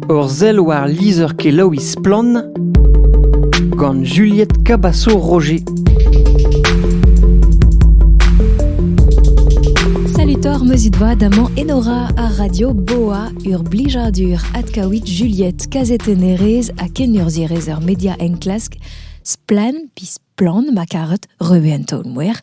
Ur sell war lizher-kelaouiñ Splann! gant Juliette Cabasso-Roger. Salut Thor, meuzit voa damant Enora ar radio Boa ur blijadur adkaouit Juliette kazetennerez ha kenurzhierez er media enklask Splan, Plan ma karet, reve en taol-mouer,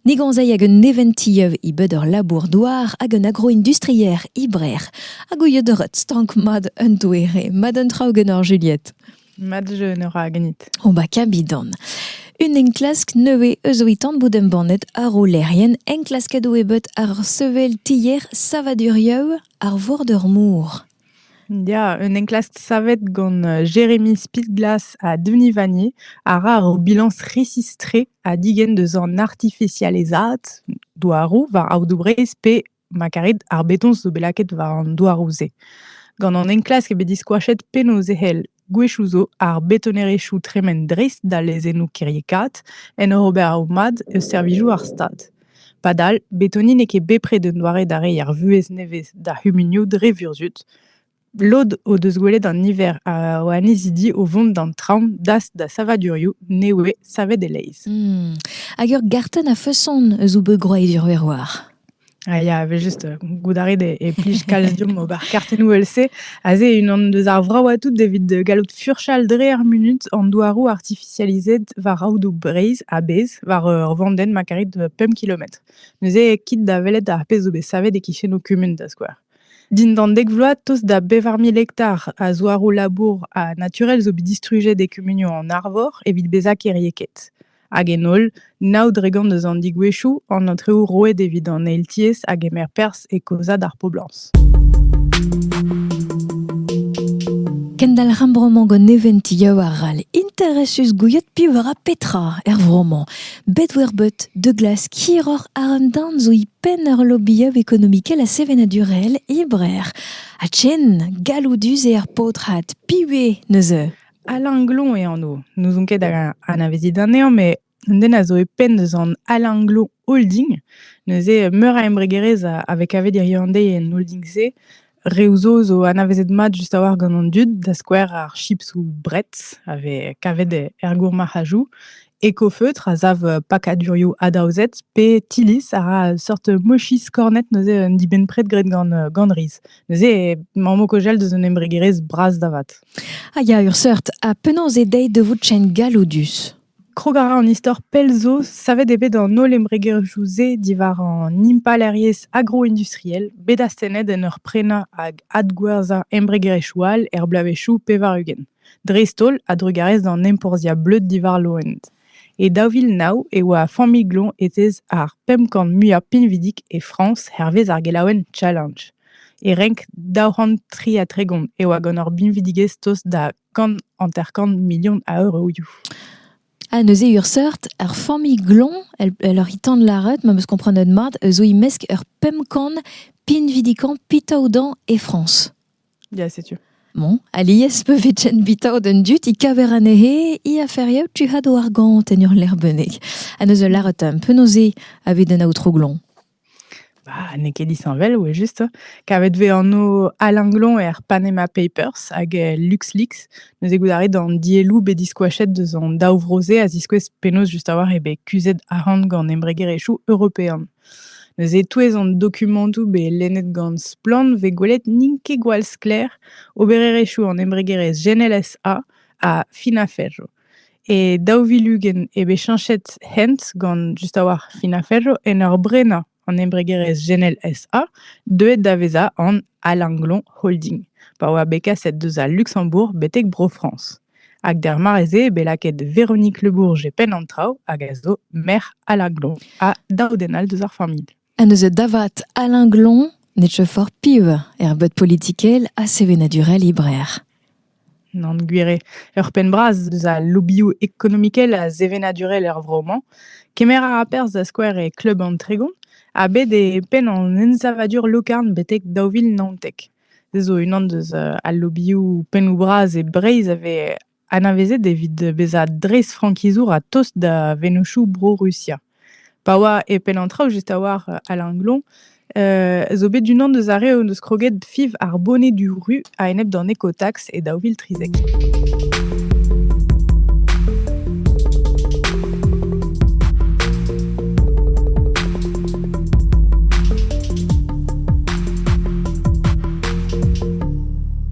ne gonzei hag un neventilleuv e bed ur labour-douar hag un agroindustrier e Brec'h, hag ouiet ret stank mat un doere, mat un traoù genor Juliette. Mat genor a gnit. O ba kabidan. Un enklask nevez eus ouitan bout embannet ar olerien enklasket o ebet ar sevel tier savadurieu ar vor d'ur mour. Ya, un enklask savet gant Jeremy Spitglass ha Denis Vanier a ra ur bilañs resis-tre ha digen deus an artifisializaat douaroù war aodoù Breizh pe ma karit ar betoñs zo bet lakaet war an douaroù-se. Gant an enklask eo bet diskoachet penaos e c'hell Gwechoù zo ar betonerezhioù tremen dreist da lezennoù kiriekaat en ur ober o mad eus servijoù ar Stad. Padal, betoni n'eo ket bepred un doare da reiñ ar vuhez nevez d'ar c'humunioù dre vurzhud. Lod o deus gwelet an niver o annezidi o vont d'an traoñ das da savadurioù ne voe savet e-leizh. Hag ur gartenn a-feson eus o beug-gwraet Iruerwar. Ah, il y avait juste, heu, goudarit et et plij calcium ober kartennoù else. Aze unan deus ar vraoù tout evit, heu, gallout furchal dre ar munut an douaroù artifisializet war aodoù Breizh a-bezh war, heu, ur vandenn ma karit, heu, pemp kilometr. Neuze, kit da welet ar pezh zo bet savet e-kichenoù kumun, da skouer. Dindan dek vloaz, tost da bevar mil hektar a zouaroù-labour ha naturel zo bet distrujet e kumunioù an Arvor evit bezañ kêriekaet. Hag en holl, nav dregont eus an digwezhioù, an aotrou roet evit an eil-tiez a gemer perzh e kaozaat ar poblañs. Kendalc'h ar vro-mañ gant neventioù arall interesus gouiet piv a ra petra er vro-mañ. Bet-wer-bet de glas hiroc'h a un darn zo e penn ur lobbyov ekonomikel ha sevenadurel e Brer. Ha chen galloudus eo ar paotrat, piv eo neuze? Alain Glon eo anv. N'ouzon ket hag anavezit anezhañ, met un den a zo e penn deus an Alain Glon Holding. Neuze, meur a embregerezh a vez kavet hiriv-an-deiz en holding-se. Reoù zo zo anavezet mat just a-walc'h gant an dud, da skouer ar chips ou brets a vez kavet er gourmarc'hajoù. Ecofeutre a sav pakadurioù adaozet pe Tillis a ra seurt mochis kornet neuze un dibenn-pred graet gant riz. Neuze, maman Kojel deus un embregerezh bras da vat. Ah ya, ur seurt. Ha penaos eo deit de vout chen galloudus Krog a ra an istor pell zo savet eo bet an holl embregerioù-se diwar an impalaeriezh agro-industriel bet astennet en ur prenañ hag adgwerzhañ embregerezhioù all er bloavezhioù pevar-ugent. dreist-holl a-drugarez d'an enporzhiañ bleud diwar loened. E daou vil nav e oa ar familh-gloñ etez ar pemp kant muiañ pinvidik e Frañs hervez ar gelaouenn Challenge. E renk daou c'hant tri ha tregont e oa gant ur binvidigezh tost da kant hanter-kant milion a euroioù. Ah, neuze urseurt, ar familh gloñ, elle, elle oc'h tan lâret, ma meus komprenet mat, zo e-mesk ur pemp kant pinvidikañ pitaodañ e Frañs. Ya, setu. Bon, alies pe vetzen bitaod an dud i kaver anezhe i aferiou tu had o argant en ur lec'h-bennek. Ha neus ul laret un penaoze aved an aotrou Glon. Bah, n'eo ket disheñvel, ouais, juste. Kavet vez anv Alain Glon er Panama Papers hag e LuxLeaks. Neus e goudaret d'an dielloù bet diskoachet deus an daou vro-se a ziskouez penaos just a-walc'h eo bet kuzhet arc'hant gant embregerezhioù européan. Neuze e-touez an dokumantoù bet lennet gant Splann 'vez gwelet n'int ket gwall sklaer obererezhioù an embregerezh GNLSA ha Finaferro. E daou vil ugent eo bet cheñchet hent gant just a-walc'h Finaferro en ur brenañ an embregerezh GNLSA deuet da vezañ an Alinglon Holding pa oa bet kaset deus al Luksembourg betek Bro-Frañs. Hag d'ar mare-se bet lakaet Véronique Le Bourg e penn an traoù hag a zo merc'h Alain Glon ha daou den all deus ar familh. Ha neuze da vat Alain Glon ne teu fort piv er beud politikel ha sevenadurel librer. Nan gwir eo. Ur penn bras deus al lobioù ekonomikel ha sevenadurel er vro-mañ. Kemer a ra perzh da skouer e kleub an Tregon ha bet e penn an ensavadur lokarn betek daou vil naontek. Se zo unan deus al lobioù pennoù-bras e Breizh a vez anavezet evit bezañ dreistfrankizour a-tost da vennozhioù Bro-Rusia. Pa oa e penn an traoù just a-walc'h Alain Glon zo bet unan deus ar re o deus kroget fiv ar boned du ru a-enep d'an ekotax e daou vil trizek.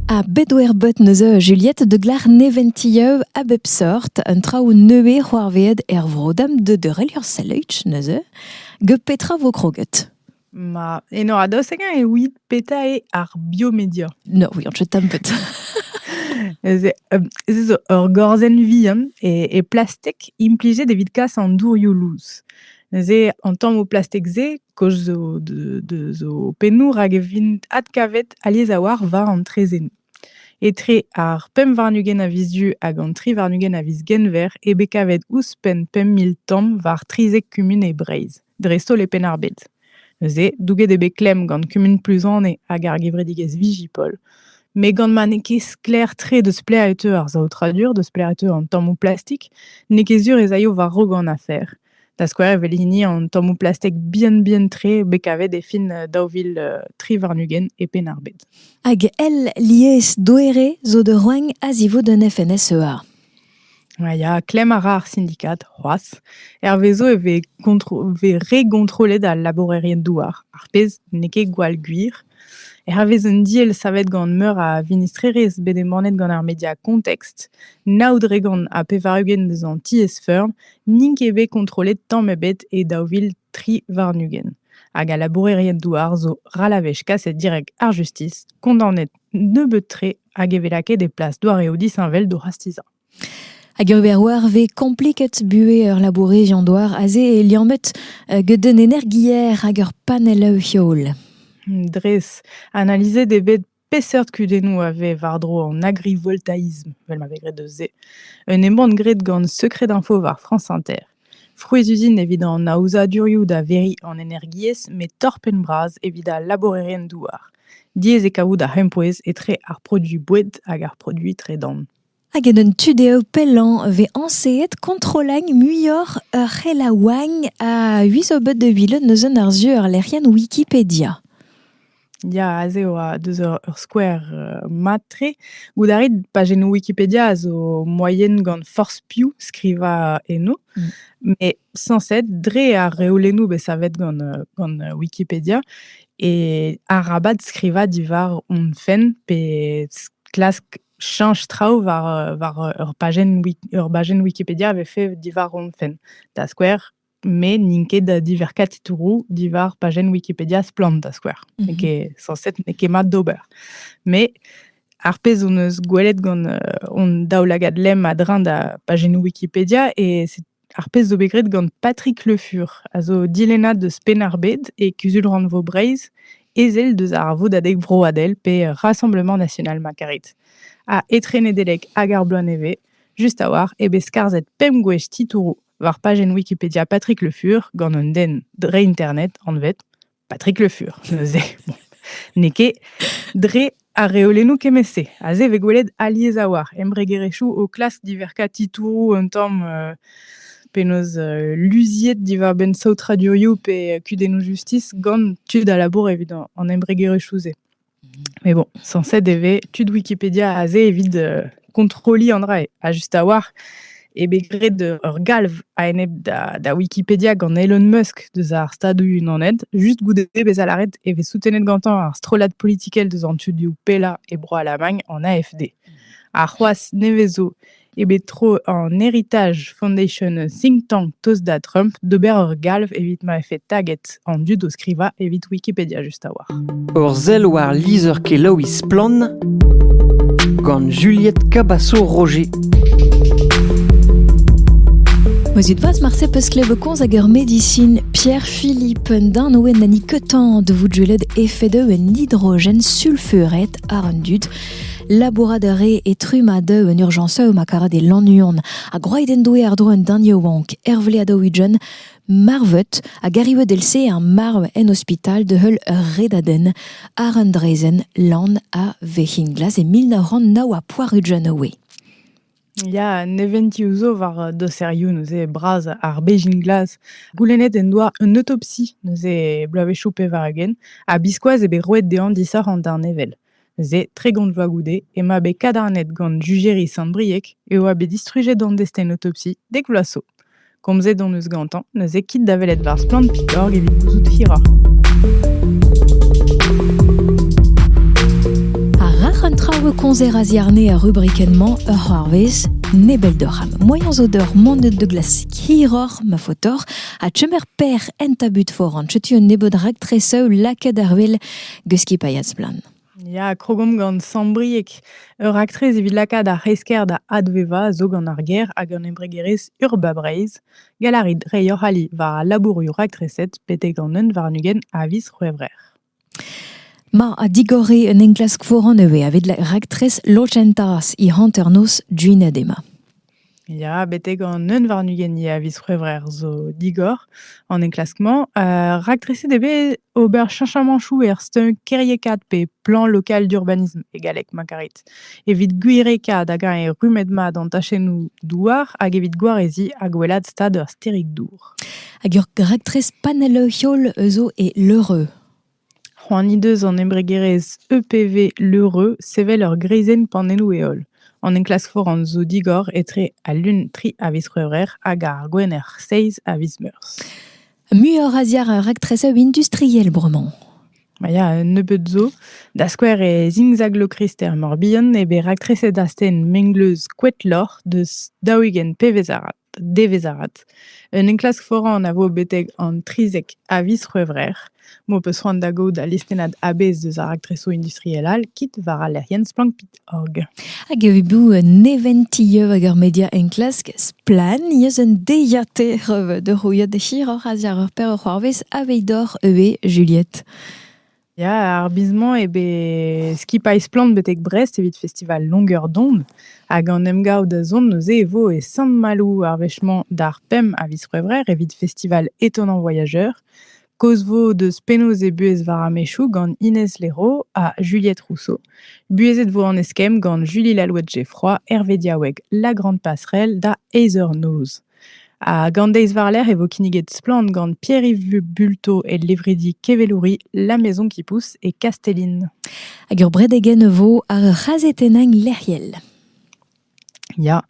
A bedwerbet neuze Juliette de Glar neventilleu a bep sort, un traoù neuze c'hoarveet er vrodam de deurelior seleuch neuze, ge petra vo kroget Ma eno a-dost hag-eñ evit petra eo ar biomedia? No, we aren't tam but. Ez eo ur gorzenn vihan e plastek implijet evit kas an dourioù lous. Neuze an tammoù plastek-se kaoz zo deus o pennoù rak e vint adkavet alies a-walc'h war an traezhennoù. Etre ar pemp warn-ugent a viz Du hag an tri warn-ugent a viz Genver eo bet kavet ouzhpenn pemp mil tamm war trizek kumun e Breizh. dreist-holl e Penn-ar-Bed. Neuze, douget eo bet klemm gant kumun Pluzane hag ar gevredigezh Vigipol. Met gant ma n'eo ket sklaer-tre deus plaer e teu ar saotradur, deus plaer e teu an tammoù plastik, n'eo ket sur ez aio war-raok an afer. Da skouer evel hini an tammoù plastek bihan-bihan-tre bet kavet e fin euh, daou vil euh, tri warn-ugent e Penn-ar-Bed. Hag el lies doere zo da roagn a zivout un FNSEA. Ya, klemm a ra ar sindikad c'hoazh. Hervezo e vez gontro- vez re gontrollet al labourerien-douar, ar pezh n'eo ket gwall gwir. Hervez un diell savet gant meur a vinistrerezh bet embannet gant ar media Context, nav dregont ha pevar-ugent eus an tiez-feurm n'int ket bet kontrollet tamm ebet e daou vil tri warn-ugent. Hag al labourerien-douar zo ral a wech kaset direk ar justis, kondaonet nebeut-tre hag e vez lakaet e plas doareoù disheñvel d'o c'hastizañ. Hag ur ber oarve kompliket buhez ur labourez doar aze e liammet euh, get un energier hag ur panell heol. Dres, analizet eo bet peseurt kudennoù a vez war-dro an agrivoltaïsme, vel ma vez graet eus se. Un embann graet gant Secret Info war France Inter. Frouezh-uzin evit an aozadurioù da veriñ an energiezh met torr-penn-bras evit al labourerien-douar. Diaes eo kavout ar c'hempouez etre ar produiñ boued hag ar produiñ tredan. Hag en un tu dezho pellañ vez añseet kontrolagn muioc'h ur c'helaouagn a-us o bed de Villeneuve neuze ar sur lec'hienn Wikipedia. Ya, aze e oa deus ur ur skouer, heu, mat-tre. Goût a rit pajennoù Wikipedia a zo moaien gant forzh piv skrivañ eno, Mmh. mais sañset dre ar reolennoù bet savet gant, heu, gant, heu, Wikipedia et arabat skrivañ diwar hon fenn pe s klask chañch traoù war, heu, war, heu, ur pajenn wik ur bajenn Wikipedia avait fait diwar hon fenn. Da skouer met n'int ket da diverkañ titouroù diwar pajenn Wikipedia Splann, da skouer. Mhm. N'eo ket sañset, n'eo ket mat d'ober. Mais ar pezh hon eus gwelet gant euh, hon daoulagad lemm a-dreñv da pajennoù Wikipedia, et c'est ar pezh zo bet graet gant Patrick Le Fur, a zo dilennad deus Penn-ar-Bed et Kuzul-rannvro Breizh, ezel deus ar Vodadeg Vroadel pe Rassemblement National ma karit, a etrenedelek hag ar bloaz nevez, just a-walc'h eo bet skarzhet pemp gwech titouroù war pajenn Wikipedia Patrick Le Fur gant un den dre internet anvet Patrick Le Fur. Neuze, bon, n'eo ket dre ar reolennoù kemmet-se. Aze e vez gwelet alies a oar embregerezhioù o klask diverkañ titouroù un tamm euh, penaos euh, luziet diwar-benn saout radioioù pe kudennoù justis gant tud a labour evit an embregerezhioù-se. Mais bon, censé devait tud Wikipédia aze evit euh, kontroliñ an dra ha just a-walc'h eo bet graet ur galv a-enep da, da Wikipedia gant Elon Musk deus ar Stadoù-Unanet just goude bezañ lâret e vez soutenet gantañ ar strollad politikel deus an tudioù pellañ e Bro-Alamagn, an AFD. Ha c'hoazh nevez zo eo bet tro an Heritage Foundation think tank Toasda Trump d'ober ur galv evit ma vefe taget an dud o skrivañ evit Wikipedia just a-walc'h. Ur sell war lizher-kelaouiñ Splann gant Juliette Cabasso-Roger. Mozut vaz marse peus klebekoz hag ur medisin Pierre-Philippe Darnoe nani ketan de voudjeled efede un hydrogen sulfuret ar an dud Labourat a ree e Trumadeu en urjañseu ma karet e Lannuon, ha gwraet en doe àr-dro an den yaouank, Herve Adaouidjen, marvet hag arrivet èl-se ar marv en ospital da heul ur redadenn àr un draezhenn lan a Vec'hinglas e mil nav c'hant nav ha poar-ugent oe. Ya, neventiou zo war doserioù neuze bras ar Bejin-Glas. Goulennet en doa un autopsie neuze bloavezhioù pevar-ugent, ha biskoazh eo bet roet dezhañ disoc'h an darnevel. Se, tregont vloaz goude, ema bet kadarnet gant jujeri Sant-Brieg e oa bet distrujet an destenotopsi dek vloaz zo. Komzet hon eus gantañ neuze kit da welet war Splann.org evit gouzout hiroc'h. Ha rac'h an traoù e komzer a-ziarne ar rubrikenn-mañ ur c'hoarvez nebel doc'h am moaien zo d'ur manet de glasik hiroc'h ma faotoc'h ha chemer per en tabut foran. Chetu un nebeud raktre-sev lakaet ar wel Guski Splann. Ya, krogomp gant Sambriek, ur aktrez evit lakaat ar c'hresker da advevañ zo gant ar ger hag an embregerezh Urba Breizh, galarit reiñ hoc'h ali war al labourioù raktreset betek an un warn-ugent a viz C'hwevrer. Ma a digore un enklask foran eve avit raktres lochentas i hanternoz Duinadema. Ya, betek an neun warn-ugent eo a viz C'hwevrer zo digor an enklask-mañ. Heu, raktreset eo bet ober cheñchamañchoù er stumm kêriekaat pe plan lokal d'urbanism e galleg, ma karit. Evit gwirekaat hag-eñ eo rummet-mat an tachennoù douar hag evit gwareziñ ha gwellaat stad ur stêrig-dour. Hag ur raktres panell-heol zo e Leureux. C'hoant he deus an embregerezh EPV Leureux sevel ur greizenn pannennoù-heol. An enklask foran zo digor etre al Lun tri a viz C'hwevrer hag ar Gwener seizh a viz Meurzh. Muioc'h a ziar ar raktrezeu industriel bremañ. Ma ya, un nebeud zo. Da skouer e zingzaglokrister Morbihan eo bet raktreset astenn mengleuz Koetloc'h deus daou-ugent pevez arat. devezh-avat. Un enklask foran a vo betek an 30 a viz C'hwevrer m'ho peus c'hoant da gaout al listennad a-bezh deus ar raktresoù industriel all kit war al lec'hienn Splankpit.org. Hag evit bout neventieu hag ur media enklask splann eus un deiziataer da c'houiat da hiroc'h a-ziàr ur per a c'hoarvez aveit doc'h eu. Juliette. Ya, ar biz-mañ eo bet skipailh Splann betek Brest evit festival Longueur d'onde. Hag an emgav da zont neuze e vo e Sant-Maloù ar wech-mañ d'ar pemp a viz C'hwevrer evit festival Étonnant voyageur. Kaoz 'vo deus penaos eo buhez war ar mechoù gant Inès Léraud ha Juliette Rousseau. Buhezet 'vo an eskemm gant Julie Lalouette-Geffroy, Hervé Diaoueg La Grande Passerelle da Aether Noz. Hag an deiz war-lerc'h e vo kinniget Splann gant Pierre-Yves Bulto e levredi Kevelouri La Maison qui pousse e Kastellin. Hag ur bredegen e vo ar c'hazetennañ lec'hiel. Ya,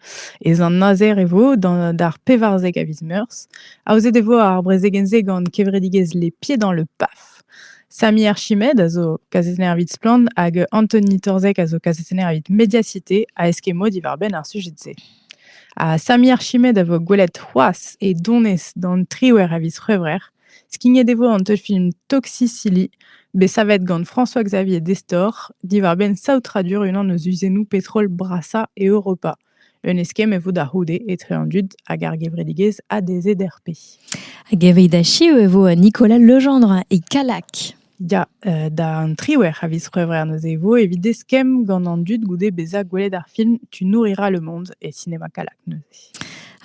ez an azer e vo d'ar pevarzek a viz meurzh. Aozet e vo ar brezegenn-se gant kevredigezh Les Pieds dans le PAF. Sami Archimed a zo kazetenner evit Splann hag Anthony Torzek a zo kazetenner evit Mediacité a eskemo diwar-benn ar sujet-se. Ha Sami Archimед a vo gwelet c'hoazh e donez d'an triwec'h a viz C'hwevrer. Skignet e vo an teulfilm Toxicilly, bet savet gant François-Xavier Destor, diwar-benn saotradur unan eus uzennoù petrol brasañ Europa. Un eskemm e vo da c'houde etre an dud hag ar gevredigezh ADZRP. Hag evit achiu e vo Nicolas Legendre e Kallag. Ya, euh, d'an triwec'h a viz C'hwevrer neuze e vo evit eskemm gant an dud goude bezañ gwelet ar film Tu nourrira le monde et Cinéma Kalak neuze.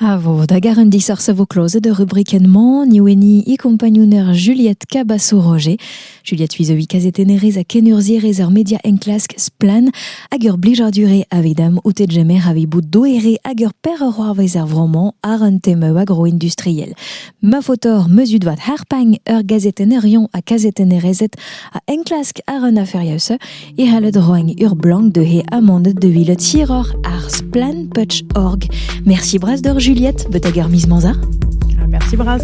A vo da gar un disoc'h a vo klozet ur rubrikenn-mañ, Nioueni e kompagnouner Juliette Cabasso-Roger. Juliette Uizovi kazetennerez ha kenurzhierez ar media enklask Splan hag ur blijarduré avit am outet jemer avit bout doere hag ur per ur c'hoarvez er vro-mañ ar un tem eo agro-industriel. Ma faotr mezut vat harpagn ur gazetenerion ha kazetennerezed a enklask ar un aferius e c'halled roiñ ur blank de he amanded de villet hiroc'h ar splanputch.org. Merci bras d'or Juliette, betag er mis manza. Merci bras.